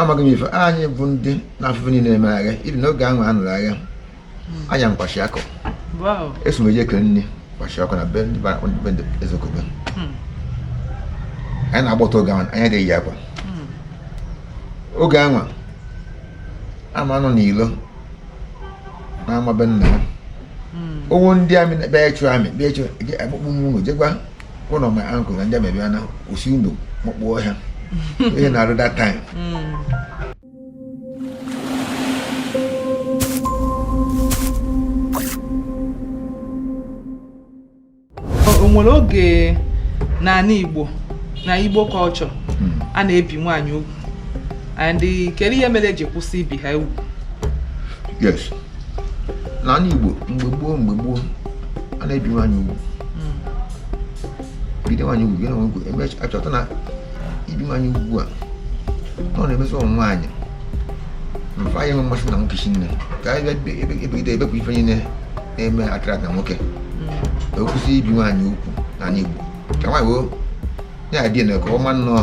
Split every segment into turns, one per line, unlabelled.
amaghị m ife anyị bụ ndị na afụfụ niile emega ife n'oge ahụ a nụrụ agha hmm. aya m kwashiorkor eso m eje eke nni kwashiorkor na be ndị ezekobe hmm. anyị na-agba ọtọ oge ahụ anyị adị eyi akwa hmm. oge ahụ ama nọ n'ilo na-ama be nna ya oge ndị army bịa ịchụ army bịa ịchụ akpụkpụ nwa unu jekwa one of my uncle ndị army bịa na o si ụnọ makpu ọhịa ihe na-arụ that
time o nwere oge n'ani Igbo na Igbo culture a na-ebi nwaanyị ugwu and kedu ihe mere eji kwụsị ibi ha ugwu yes
n'ani Igbo mgbe gboo mgbe gboo a na-ebi nwaanyị ugwu hmm. bido nwaanyị ugwu gịnị ugwu emecha achọta na ibi nwaanyị ugwu a na ọ na-emezi ụmụ nwaanyị fa anaghị enwe mmasị na nwoke chi nne ka anyị bịa ebegide ebepụ ife niile na-eme attract na nwoke hmm. akwụsị ibi nwaanyị ugwu n'ani Igbo ka nwaanyị woo ya adị na ka ọma nnọọ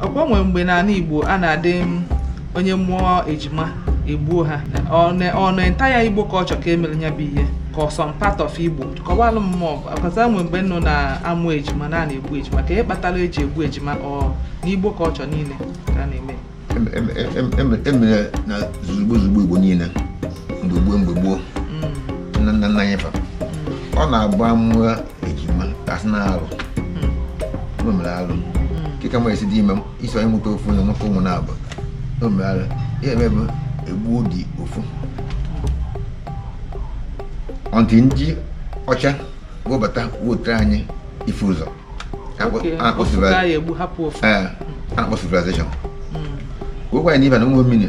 ọkwa o nwe
mgbe n'ani Igbo a na-adị onye mụọ ejima egbuo ha ọ na entire Igbo culture ka emere ya bụ ihe ka ọ some part of Igbo kọwalụ mụ ọkwa a sị o nwe mgbe nọ na-amụ ejima na a na-egbu ejima kee ihe kpatara eji egbu ejima ọ n'Igbo culture niile ka a
na-eme emere na zuzugbo zugbo Igbo niile mgbe gboo mgbe gboo mm. nna nna anyị fa mm. ọ na-abụ a mụọ ejima ka a sị na alụ o mere alụ kee ka m esi dị ime m iso anyị mụta ofu na nwoke ụmụ naabọ o mere alụ ife eme bụ egbuo dị ofu until ndị ọcha webata wetara anyị ifụ ụzọ Okay, ọ bụ ofu ka a na-egbu hapụ ofu ee akpọ civilization wee gwa anyị na ibe na ụmụ mmiri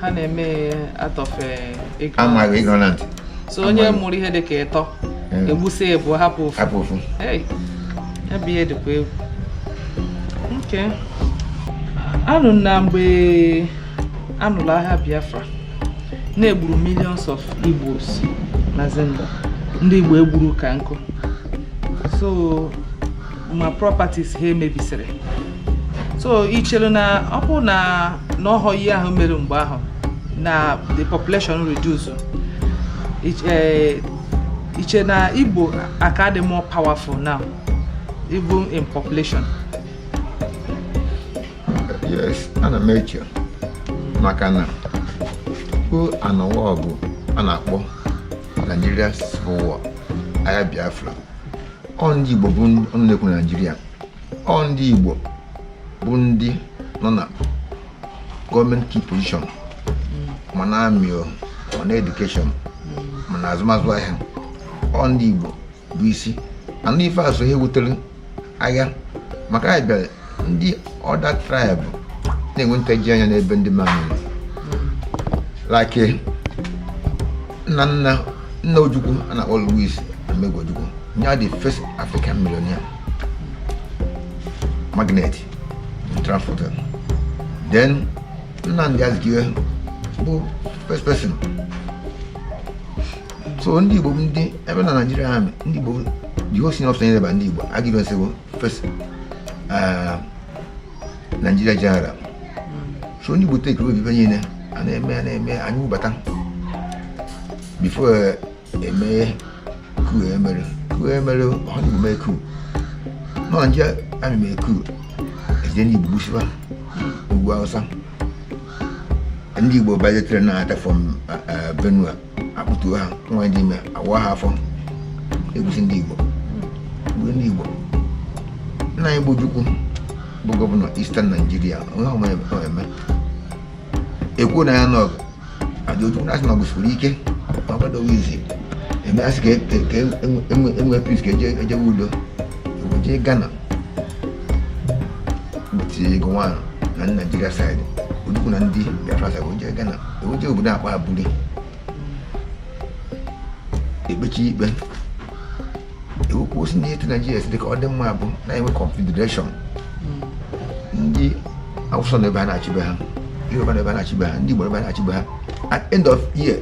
ha na-eme out of amaghị
ignorant so onye
mụrụ ihe dị ka ịtọ egbusi ibua hapụ ofu hapụ ofu ya bụ ihe dịkwa egwu okay anụ m na mgbe anụrụ agha Biafra na e gburu millions of Igbos na Zimba ndị Igbo egburu ka nkụ so ma properties ha emebisiri so i chere na ọ bụ na na ọhọ ihe ahụ mere mgbe ahụ na the population reduce Ich- eh, i che na Igbo aka-adị more powerful now even in
population yes ana m eche maka na tupu a nụwa ọgụ a na-akpọ Nigeria Civil War agha Biafra ọ ndị Igbo bụ ndị ọnụ na-ekwuru Naịjirịa ọ ndị Igbo bụ ndị nọ na gọọmenti key position ma na army o ma na education ma na azụmazụ ahịa ọ ndị Igbo bụ isi and ife a so n'ihe wutere agha maka anyị bịara ndị other tribe na-enwe ntaji anya n'ebe ndị mmadụ like nna nna nna ojukwu a na-akpọ louis odumegwu ojukwu ya the first african millionaire magnate transporter then nnamdi azikiwe bụ first person so ndị igbo bụ ndị ebe na naijiria ha ndị igbo the whole senior officer niile bụ ndị igbo aguiyi ironsi bụ First, uh, Nigeria general so ndị Igbo take over ebe niile a na-eme a na-eme anyị wụbata before e mee coup e mere coup e mere ọ ndị Igbo mee coup northern Nigeria army mee coup e jide ndị Igbo gbusiba n'ugwu Hausa ndị Igbo banye train na-anata from uh, uh, Benue akpụtuo ha nwaanyị dị ime awaa ha afọ egbusi ndị Igbo mgbe ndị Igbo nna anyị bụ Ojukwu bụ gọvanọ Eastern Nigeria onye ọma e mee e kwuo na ya n'ọgụ and Ojukwu na-asị na ọgụ siri ike na ọgụ adịghị easy e mee a sị ka e nwee peace ka e jewe udo jee Ghana between Gowon na ndị Naijiria side Ojukwu na ndị Biafra side jee Ghana e wee jee obodo a kpọ aburi ekpechi ikpe e wee kwuo sị na etu naijiria si dị ka ọ dị mma bụ na e nwee confederation ndị awụsa nọ be ha na-achị be ha yoruba nọ be ha na-achị be ha ndị igbo nọ be ha na-achị be ha at end of year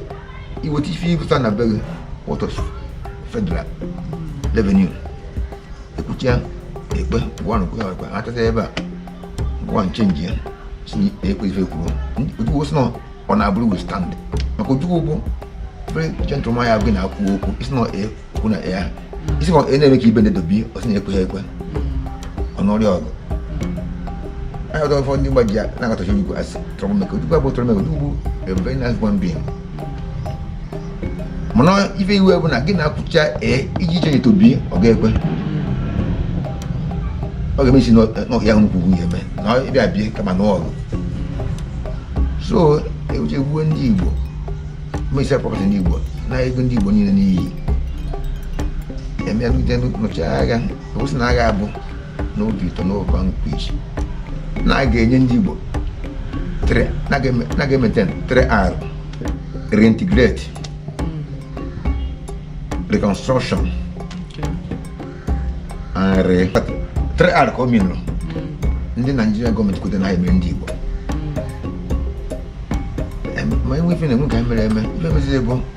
i weta ife ịpụta na be gị wọtọs federal revenue ekwuchia ikpe gowon kwe ha ekwe ha anata ebe a gowon change ya sị ekwe ife e kwuru ojukwu sị na on aburi we stand maka ojukwu bụ very gentleman ya na gị na-ekwu okwu isi na ekwu na ya isi na e na-eme ka ibe na-edobi ọ sị na ekwe ha ekwe ọ n'ọrịa ọgụ anyị ọdọ ụfọdụ ndị mgbaji ya na-akatọcha ojukwu asị troublemaker ojukwu abụ troublemaker ojukwu bụ a very nice human being mana ife iwe bụ na gị na ya kwuchaa ee iji chenye tobi ọ ga-ekwe ọ ga-eme isi n'ọhịa ahụ nkwugwu ya eme na ịbịa bie kama n'ọgụ so ewuche gbuo ndị igbo mesịa property ndị igbo na ego ndị igbo niile n'iyi emegide nụcha agha kwụsị na agha abụ n'obi ụtọ n'oge nkwa isi na a ga-enye ndị Igbo na ga-emete 3R reintegrate reconstruction and re 3R ka m nụrụ ndị Naijiria gọọmenti kweta na ha emere ndị Igbo ma enwe ife na-enwe ka ha mere eme ife meziri bụ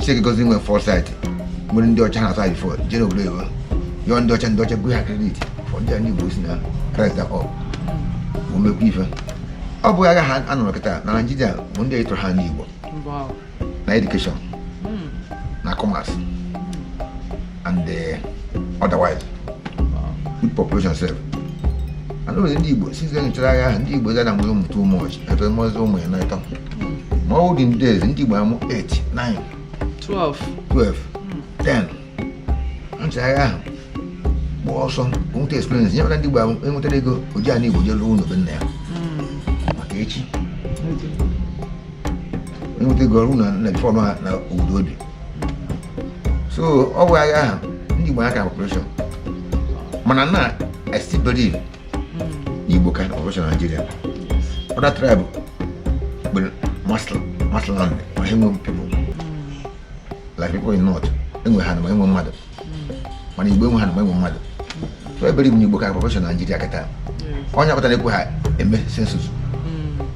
Chineke gọziri nwere foresight nwere ndị ọcha na-asa before jee n'obodo oyibo yọọ ndị ọcha ndị ọcha gụọ ha credit fọ ndị a ndị Igbo si na kraịst akọ omekwa ife ọ bụghị agha a nụrụ kịta na naijiria bụ ndị ịtụrụ ha ndị Igbo na education na commerce and the uh, otherwise both population sef and always ndị Igbo since then nụchara agha ahụ ndị Igbo zara nwere ụmụ too much ebe mmụọzi ụmụ ya n'ịtọ ma olden days ndị Igbo amụ 8 9 12 12 10 nụchara agha ahụ gba ọsọ nweta experience nye mara ndị Igbo enwetara ego o ji ana Igbo jee lụọ ụlọ be nna ya maka echi enweta ego ọ rụọ na before na obodo o bi so ọ bụ agha ahụ ndị Igbo aka population mana na I still believe Igbo ka population na Nigeria other tribe bụ mass land ma enwe people like people in north enwe ana enwe mmadụ mana igbo enwe ana enwe mmadụ I believe igbo igbo ka population na naijiria kịta ọ ya kpata na-ekwe ha eme census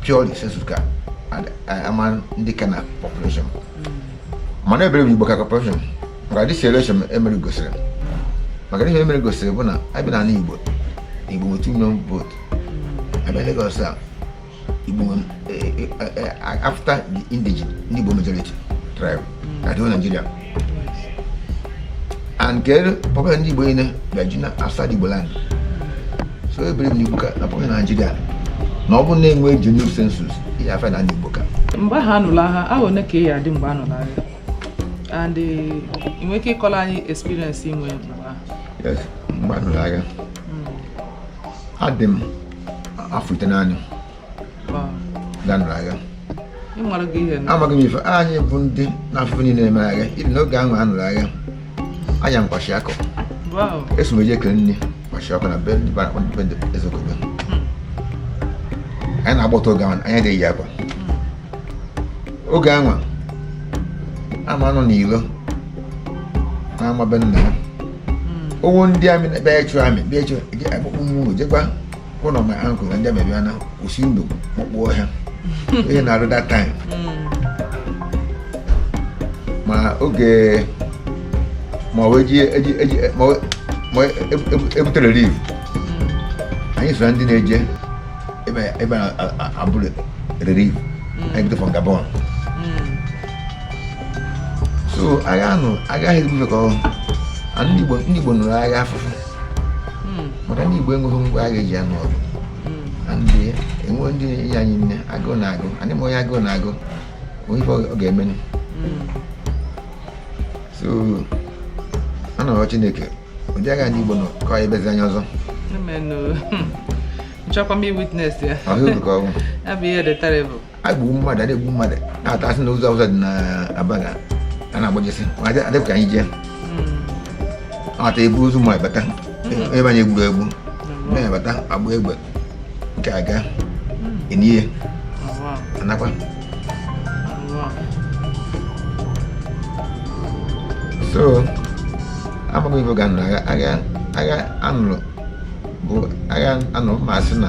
purely census ka a ma ndị ka na population mana I believe igbo ka population maka this election emere gosiri maka ihe emere gosiri bụ na abịa na ala igbo igbo nwe 2 million vote abịa Lagos a Igbo nwere eh, eh, eh, after the indigene ndị Igbo majority tribe na the whole Nigeria and nke population ndị Igbo niile bịaju na outside Igbo land so I believe n'Igbo ka na population na Nigeria na ọ bụrụ na enwe genuine census ị ga-afụ na ndị Igbo ka mgbe ahụ a nụrụ
agha afọ one ka ị dị mgbe a nụrụ agha and ị nwere ike ịkọrọ anyị experience i nwe mgbe ahụ mgbe a nụrụ
agha adị m afọ itenaanị ka a nụrụ
agha amaghị m ife anyị
bụ ndị na-afụ ife niile na-eme n'agha even oge ahụ a nụrụ agha aya kwashiorkor eso m eje ekele nni kwashiorkor na be ndị bara akpọ ndị ezokobe hmm. anyị na-agba ọtọ oge ahụ anyị adịghị eyi akwa hmm. oge ahụ ama nọ n'ilo n'ama be nna ya owo ndị amị na-ebe ịchụ amị bịa ịchụ akpụkpọ mmụọ jekwa ụlọ ma ankụ na ndị amị bịa na kwụsị ndụ kpọkpọ ọhịa ihe na-arụ that time ma oge ma ọ wee ji eji eji ma ọ wee- ma ọ wee ebu- ebu- ebute relief anyị so na ndị na-eje ebe ebe a na- a- a- eburu relief a na-ebute from Gabon so agha anụ agaghị ebufe ka ọhụrụ ndị Igbo nụrụ agha afụfụ hmm. maka ndị Igbo enweghị ngwa agha eji anụ ọgụ hmm. ndị enwe ndị enye anyị nni agụụ na-agụ anyị ma onye agụụ na-agụ o nwe ife ọ ga-eme hmm. so a na-arịọ Chineke ụdị agha ndị Igbo nọ ka ọ ebezi anya ọzọ
achọkwa m iwitness ya ọ
bụ ihe dị terrible
egburu mmadụ a
na-egbu mmadụ na-atọsị na ụzọ ụzọ dị n'Abagana agbajesi adịpụ ka anyị jee attack ebu ozu ma bata ebe anyị egburu egbu na-abata agba egbe nke a ga-eni ya a nakwa so amaghị ife ga agha agha agha a nụrụ bụ agha a nụrụ ma a sị na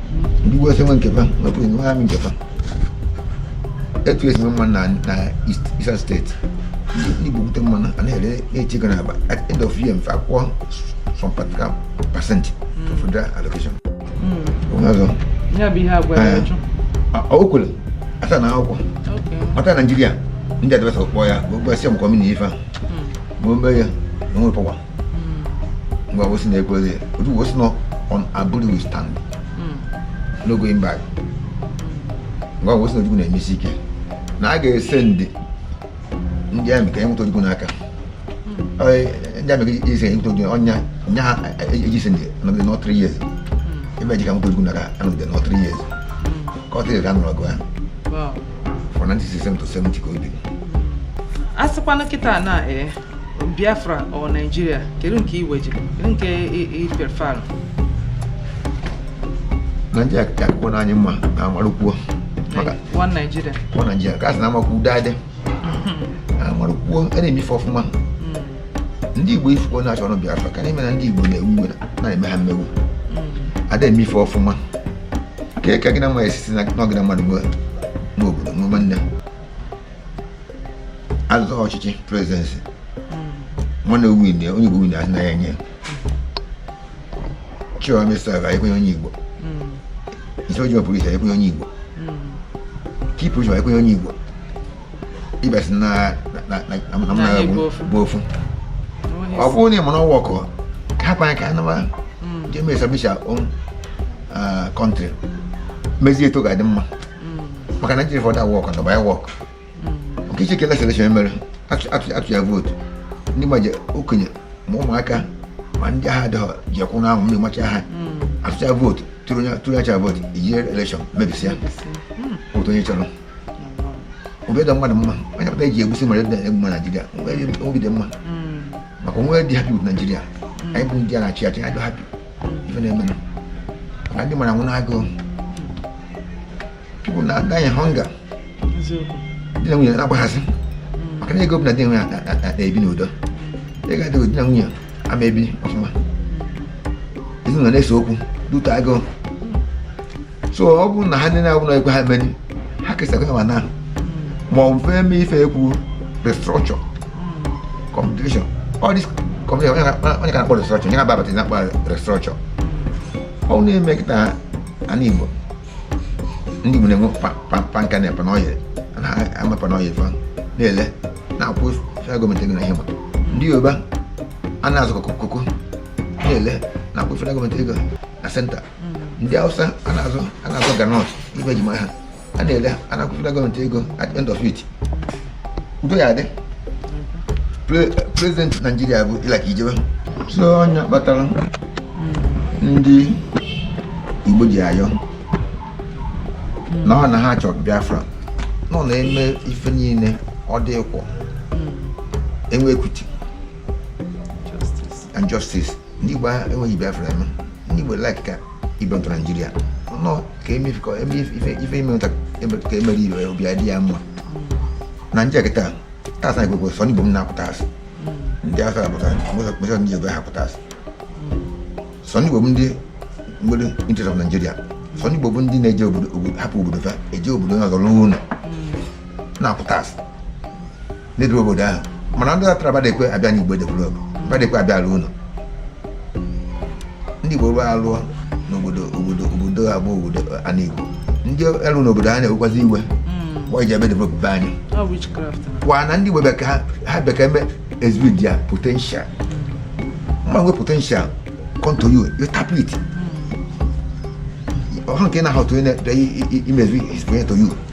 ndị West enwe nke fa nwee polisi nwee amị nke fa etu esi mma na na Eastern steeti ndị Igbo bute mmanụ a na-ere na-eche ego n'akpa at end of year fa akwụọ some particular percent to federal allocation o kwere a sign akwụkwọ nata Naijiria ndị adviser kpọọ ya bụ Gowon sị ọ makwa meaning ife a ma o mee ya na o nwe pọwa Gowon sị na ekwere Ojukwu sị na on Aburi we stand no going back Gowon sị na Ojukwu na-eme isi ike na a ga-esend ndị amị ka e nweta Ojukwu n'aka ndị amị ka ise enweta Ojukwu ọnya nya ha eji ise ndị anọgide nọ 3 years ebe eji ka nweta Ojukwu n'aka anọgide nọ 3 years ka ọ tịrị ka a nụrụ ọgụ ahụ from 1967 to 70 ka o biri a
sịkwanụ kịta na ee Biafra or Nigeria kedu nke iwe
ji kedu nke i prefer Nigeria ka akwụkwọ na anyị mma na amarụkwuo one
Nigeria one Nigeria ka a sị na amakwu
udo adị amarụkwuo a na-eme ife ọfụma ndị Igbo ifuko na-achọ ọnụ Biafra ka na-eme na ndị Igbo na-ewe iwe na-eme ha mmegbu ada eme ife ọfụma ka eke gị na nwa ya esisi na ọ gị na mmadụ nwe n'obodo nwe nwanne azọ ọchịchị prezidensị nwanne win onye Igbo win asị na ya nye chịwa mesa ga ekwenye onye Igbo isi ojii pụrụ iche ekwenye onye Igbo kipụ chịwa ekwenye onye Igbo ịbịasị na mnaga bụ ofu ọ bụrụ na ị mara ọ ma wọk hapụ anyị ka anyị naba jee mee establish our own country mezie etu ọ ga-adị mma maka na Naịjirịa fọdụ awọk na ọba ya wọk Okechukwu elekshọn elekshọn mere atụ ya vootu ndị ma ndị okenye ma ụmụaka ma ndị agadi eje akwụ n'anwụ mmiri macha ha atụcha vootu tụrụ ya tụrụ ya cha vootu iji elekshọn mebisịa otu onye chọrọ obi dị mmadụ mma onye pụta eji egbusi mmadụ dị egbu mma Naijiria obi dị mma maka onwe dị happy with Naijiria anyị bụ ndị a na-achị achị anyị dị happy ife na-emenụ maka ndị mmadụ na-anwụ n'agụụ people na die hunger di na nwunye na-agbaghazi maka na ego bụ na di na nwunye na-ebi n'udo ego adịghị di na nwunye ama ebi ọfụma ezinụlọ na-ese okwu due to agụụ so ọ bụrụ na ha niile abụrụ ekwe ha meri ha kesakwa ma na ma ọ bụ eme ife ekwu restructure politician all this politician onye ka na-akpọ restructure onye na-ababata na-akpọ restructure ọ na-eme kịta ana igbo ndị Igbo na-enwe palm kernel palm oil na ama palm oil fa na-ele na-akwụ federal gọọmenti ego na ihe ma ndị Yoruba a na-azụ cocoa na-ele na-akwụ federal gọọmenti ego na senta ndị Hausa a na-azụ a na-azụ groundnut ebe e ji ma ha a na-ele a na-akwụ federal gọọmenti ego at end of it udo ya adị prezident naijiria bụ ị like ị jewe so ọ nya kpatara ndị igbo ji ayọ na ha na ha chọrọ biafra nọ na-eme ife niile ọ dị equal enwee equity and justice ndị Igbo enweghị Biafra eme ndị Igbo like ka ị belong to Naijiria nọ ka eme ife emee nwata ka emere ibe obi adị ya mma na nje kịta tax na Igbo sọ ndị Igbo bụ na-akwụ tax ndị Hausa akwụ tax ma sọ ndị Igbo na-akwụ tax sọ ndị Igbo bụ ndị nwere interest of Nigeria sọ ndị Igbo bụ ndị na-eje obodo hapụ obodo fa eje obodo ọzọ lụọ ụlọ na-akwụ tax na-edevelop obodo ahụ mana ndị atara badekwe abịa n'igbo edevelop badekwe abịa alụ ụlọ ndị igbo wee alụọ n'obodo obodo obodo abụọ obodo ana igbo ndị elu n'obodo ha na-ewekwazi iwe why e ji abịa develop be anyị ni. how witchcraft na. kwa na ndị igbo bịa ka ha bịa ka eme exhibit their potential mma nwe potential come to you you tap it ọha nke na-ahụ otu onye na-emezu his point to you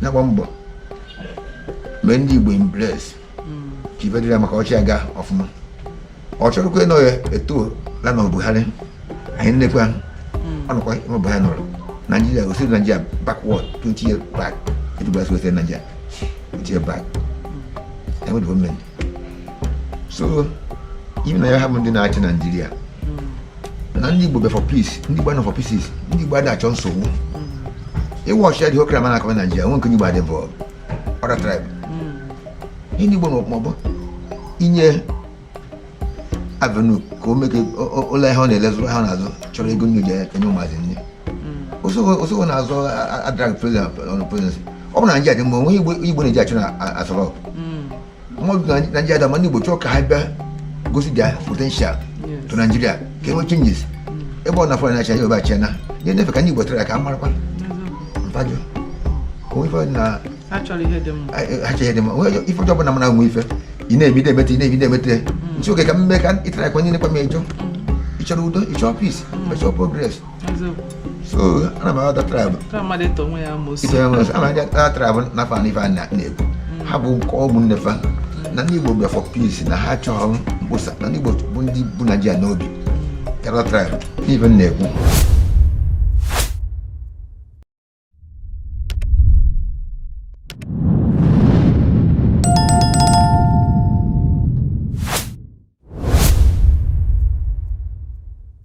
na-agba mbọ mee ndị Igbo embrace ka ife dịrị ya mma ka ọchị aga ọfụma ọ chọrọkwa ịnọ ya etu la na Buhari anyị nekwa ọnụkwa ịma Buhari nọrọ Nigeria o sere Nigeria backward 20 years back etu Buhari si weta Nigeria 20 years back anyị nwere gọọmenti so even na ya ha bụ ndị na-achị naijiria na ndị igbo bịa for peace ndị igbo nọ for peace ndị igbo ada achọ nsogbu ị watchịa dị okra mana akọwa naijiria nwe nke onye igbo dị involve other tribe ihe ndị igbo ma bụ inye avenue ka o mee ka ụlọ ihe ọ na-ele zụ ha na-azụ chọrọ ego o ji enye ụmụazị nni osogho na-azọ adrag president ọnụ presidency ọ bụ na naijiria dị mma o nwe igbo na-eje achọ na Aso Rock mana naijiria adị mma ndị igbo chọọ ka ha bịa gosi their potential to naijiria ka enwe changes ebe ọ na fa na-achị anyị obachi na ihe ndefe ka ndị igbo try ka a marakwa mfajọ onwe ife na achọrọ ihe dị mma achọrọ ihe dị mma onwe ife ọjọọ bụla mana nwe ife ị na-ebi na-emete ị na-ebi na-emete nsi oge ka mme ka ịtara akwa nye nekwa m ejọ ịchọrọ udo ịchọrọ peace ịchọrọ progress so ana m agwa other tribe other tribe na fa n'ife a na-ekwu ha bụ nke ọgwụ nnefa na ndị Igbo bịa for peace na ha chọrọ mkposa na ndị Igbo bụ ndị bu Naijiria n'obi karịa other tribe n'ife m na-ekwu